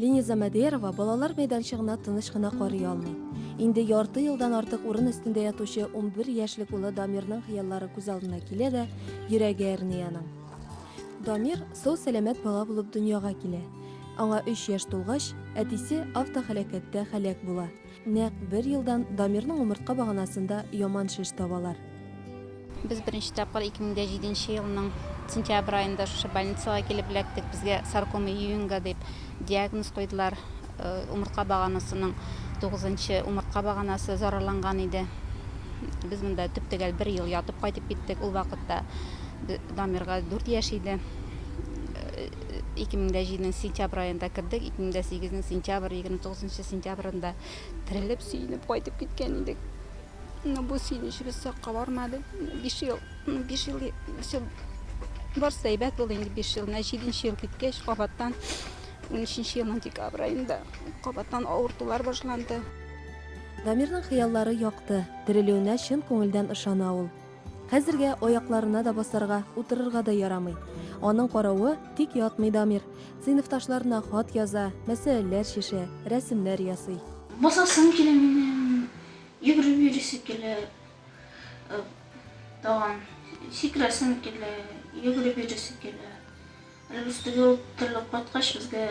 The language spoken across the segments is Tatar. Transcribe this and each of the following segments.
Линиза Мәдерова балалар мәйданчыгына тыныч кына карый алмый. Инде ярты елдан артык урын өстендә ятучы 11 яшьлек улы Дамирның хыяллары күз алдына килә дә, йөрәге әрни аның. Дамир сау сәламәт бала булып дөньяга килә. Аңа 3 яшь тулгач, әтисе автоһәлакәттә һәлак була. Нәкъ бер елдан Дамирның умыртка баганасында яман шеш табалар. Без беренче тапкыр 2007 елның сентябрь аенда шушы больницага килеп эләктек. Безгә саркома Юинга дип диагноз куйдылар. Умыртка баганасының тугызынчы умыртка баганасы зарарланган иде. Без монда төп-төгәл бер ел ятып кайтып киттек. Ул вакытта Дамирга дүрт яшь иде. ике мең дә җиденең сентябрь аенда кердек, ике мең дә сигезнең сентябрь, егерме тугызынчы сентябрендә терелеп, сөенеп кайтып киткән идек. Но бу сөенечебез сакка бармады. Биш ел, биш ел, биш ел барсы әйбәт булды инде биш ел. Менә җиденче ел киткәч, кабаттан унөченче елның декабрь аенда кабаттан авыртулар башланды. Дамирның хыяллары якты, терелүенә чын күңелдән ышана ул. Хәзергә аякларына да басарга, утырырга да ярамый. Аның каравы, тик ятмый Дамир. Сыйныфташларына хат яза, мәсьәләләр чишә, рәсемнәр ясый. Басасым килә минем, йөгереп йөрисе килә, тагын сикерәсем килә, йөгереп йөрисе килә. Әле өстәгә утырылып кайткач, безгә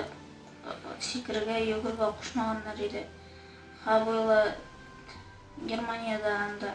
сикерергә, йөгерергә кушмаганнар иде. Хәбыла Германиядә, анда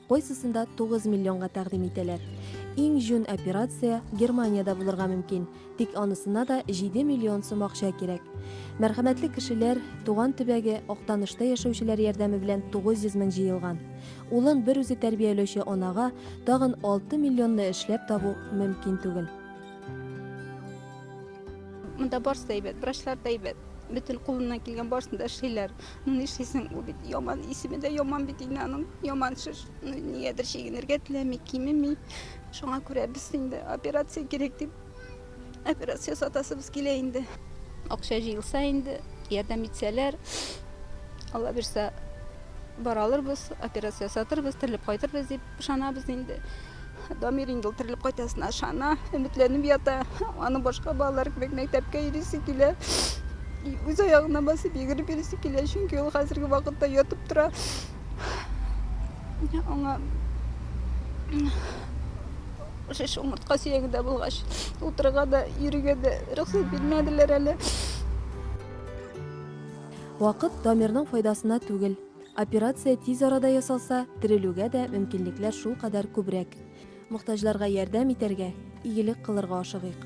Кайсысында 9 миллионга тәкъдим итәләр. Иң җүн операция Германиядә булырга мөмкин, тик анысына да 7 миллион сум акча кирәк. Мәрхәмәтле кешеләр, туган төбәге Актанышта яшәүчеләр ярдәме белән 900 мең җыелган. Улын бер үзе тәрбияләүче анага тагын 6 миллионны эшләп табу мөмкин түгел. Монда барысы да әйбәт, врачлар да әйбәт. Бөтен кулыннан килгән барысын да эшлиләр. Ну нишлисең, бу бит яман, исеме дә яман бит инде аның, яман шеш. Ну нигәдер чигенергә теләми, кимеми. Шуңа күрә без инде операция кирәк дип, операция сатасыбыз килә инде. Акча җыелса инде, ярдәм итсәләр, Алла бирса, баралырбыз, операция сатырбыз, терелеп кайтырбыз дип. Ышанабыз инде, Дамир инде ул терелеп кайтасына ышана, өметләнеп ята. Аның башка балалар кебек мәктәпкә йөрисе килә. Үз аягына басып йөгереп йөрисе килә, чөнки ул хәзерге вакытта ятып тора. Аңа шеш омыртка сөягендә булгач, утырырга да, йөрергә дә рөхсәт бирмәделәр әле. Вакыт Дамирның файдасына түгел. Операция тиз арада ясалса, терелүгә дә мөмкинлекләр шулкадәр күбрәк. Мохтаҗларга ярдәм итәргә, игелек кылырга ашыгыйк.